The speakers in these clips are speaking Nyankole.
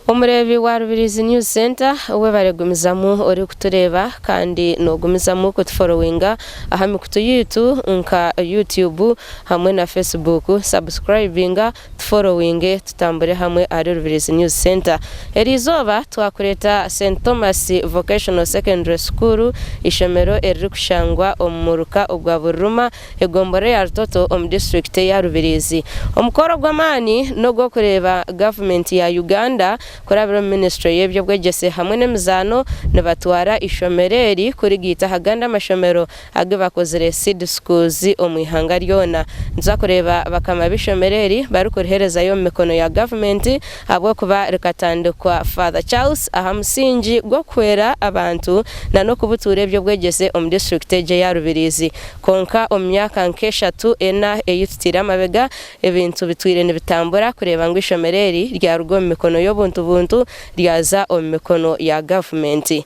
Omureebi wa Rubirizi News Centre webare gumizamu ori kutureeba kandi nogumizamu kutuforowinga aha mikutu yaitu nka Youtube hamwe na Facebook. Subscribinga Tuforowinge tutambure hamwe ahari Rubirizi News Centre. Eri izooba twakureeta St Thomas Vocational Secondary School, eishomero eririkushangwa omu muruka ogwa Buriruma, egombolola ya Rutoto omu disiturikiti eya Rubirizi. Omukoro gw'amaani n'ogw'okureeba gavumenti ya Uganda kurabira omu minisitule y'eby'obwegyese hamwe n'emizaano nibatwara eishomero eri kurigaita aha gandi amashomero agi bakozire Seed Schools omu ihanga ryona. Nituza kureeba bakama b'eishomero eri barikuriherezayo omu mikono ya gavumenti ahabw'okuba rikatandikwa Father Charles aha musingi gw'okuhwera abantu na n'okubutuura eby'obwegyese omu disiturikiti egi eya Rubirizi. Kwonka omu myaka nk'eshatu ena ei tutaire amabega, ebintu bitwire nibitambura kureeba ngu eishomero eri ryaruga omu mikono y'obuntu buntu ryaza omu mikono ya gavumenti.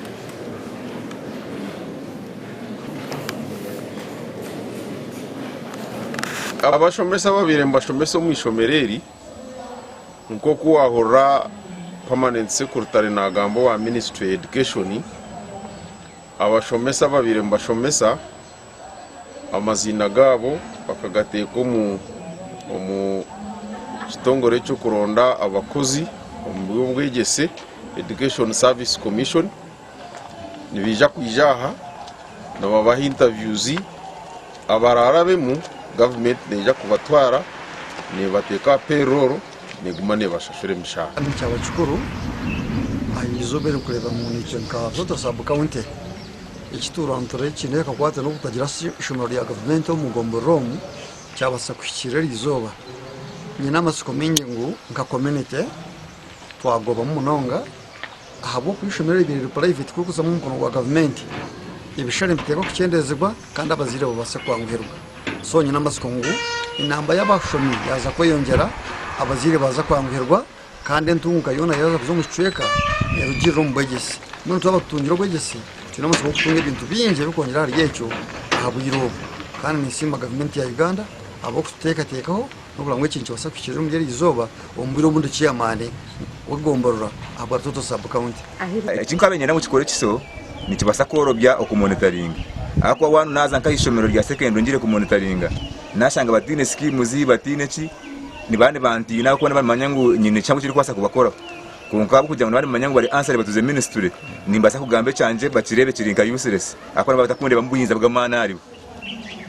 Abashomesa ababaire nibashomesa omu ishomero eri nk'oku waahurira Permanent Secretary naagamba owa ministry ya education, abashomesa ababaire nibashomesa, amaziina gaabo bakagateeka omu kitongore eky'okuronda abakozi omu by'obwegyese Education Service Commission nibaija kwija aha nibabaha intabyuuzi abaraarabemu gavumenti neija kubatwara neebateeka aha perooro neeguma neebashashura emishaara. Kandi kyaba kikuru aha izooba erikureeba ngu nikyo nka Zoto Sub County Eki tuurantire eki neha ekakwata n'okutagira ishomero rya gavumenti omu gombolola omu kyabaasa kuhikiirira eri izooba. Nyine amatsiko maingi ngu nka komunite twagobamu munonga ahabw'okuba ishomero eri riri puraiveti kurikuzamu omu mukono gwa gavumenti, ebishushani nibiteerwa kukyendeezibwa kandi abazaire babaase kwanguhirwa. So nyine amatsiko ngu enamba y'abashomi yaaza kweyongyera abazaire baaza kwanguhirwa. Kandi entunguka yoona yaaza kuza omu kicweka erugirira omu bwegyesi. Mbwenu twaba tutungire obwegyesi, twine amatsiko g'okutunga ebintu bingi ebirikwongyera ahari ekyo aha bwire obu. Kandi ninsiima gavumenti ya Uganda ahabw'okututeekateekaho n'okureba ngu eki nikibaasa kuhikiirira omuri eryo izooba omu bwire obu ndi chairman w'egomborora aha bwa Rutoto sub county. Eki nkaabaire niinyenda ngu kikore ekiso, nikibaasa kworobya okumonitaringa. Ahakuba waaba naaza nk'aha ishomero rya sekendure ngire kumonitaringa, nashanga bataine schemes bataine ki nibaba nibantiina ahabw'okuba nibaba nibamanya ngu nyine ekishango ekirikubaasa kubakoraho kwonka ahabw'okugira ngu nibaba nibamanya ngu bari answer batuze ministry nimbaasa kugamba ekyangye bakireebe kiri nka useless ahabw'okuba nibaba batakundeebamu bwinza bw'amaani aharibo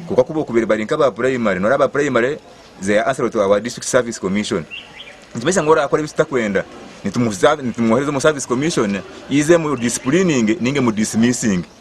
kwonka ku bookubaire bari nk'aba primary nooreeba aba primary they are answerable to our district service commission nikimanyisa ngu oraakora ebi tutakwenda nitumwohereza omu service commission ize emu disciplininge nainga emu dismissinge.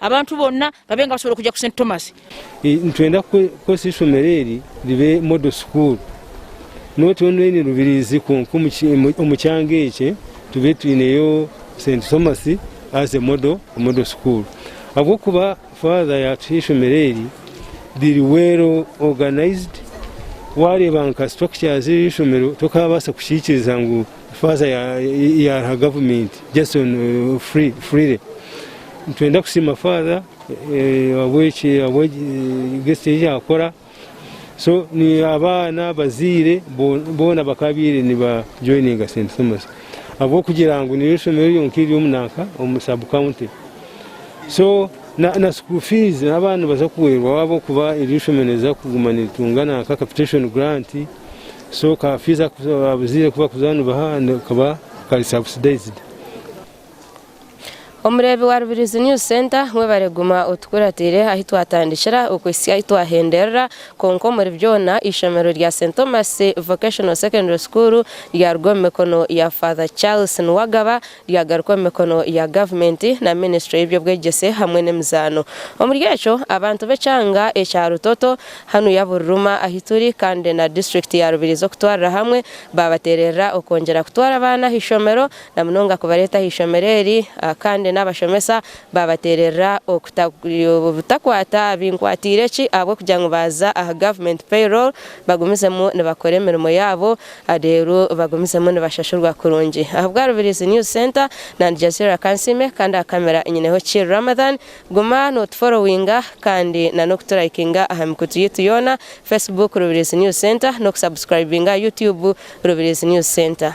Abantu boona babe nga basobora kuja ku St. Thomas. Nitwenda kukoresa ishomero eri ribe Model School. Not only in Rubirizi kwonka omu kyanga ekye tube twineyo St. Thomas as a model, a model school. Ahabw'okuba Father yatuha ishomero eri riri well organized. Wareeba nka structures y'eishomero tokabaasa kukiikiriza ngu Faaza ya aha gavumenti Jason Friire, Nitwenda kusiima Faaza ahabw'ekigezo eki akora. So abaana, abazaire boona bakaabaire nibajoininga St Thomas ahabw'okugira ngu niryo ishomero ryonka eriri omu nanka omu sub county. So na school fees abaana nibaza kuhwerwa ahabw'okuba eryo ishomero niriza kuguma niritunga nanka capitation grant. So ka fiizi abazaire aku barikuza nibaha kaba kari subsidized. Omureebi wa Rubirizi News Centre, mwebare guma otukuratiire ahi twatandikira okuhitsya ahi twahenderera, kwonka omuri byona eishomero rya St Thomas Vocational Secondary School ryaruga omu mikono ya Father Charles Nuwagaba ryagarukwa omu mikono ya gavumenti na minisitule y'eby'obwegyese hamwe n'emizaano. Omuri ekyo, abantu b'ekyanga ekya Rutoto, hanu ya Buriruma ahi turi kandi na disiturikiti ya Rubirizi okutwarira hamwe, baabateererera okwongyera kutwara abaana aha ishomero na munonga kubareeta aha ishomero eri kandi n'abashomesa baabateererera obutakwata binkwatiireki ahabw'okugira ngu baaza aha gavumenti payroll bagumizemu nibakora emirimo yaabo Adeeru bagumizemu nibashashurwa kurungi ahabwa Rubirizi News Centre na Aljazeera Kansiime kandi aha camera nyineho Chill Ramadhan Guma notuforowinga kandi na nokuturayikinga aha mikutu yaitu yoona Facebook Rubirizi News Centre nokusubscribinga Youtube Rubirizi News Centre.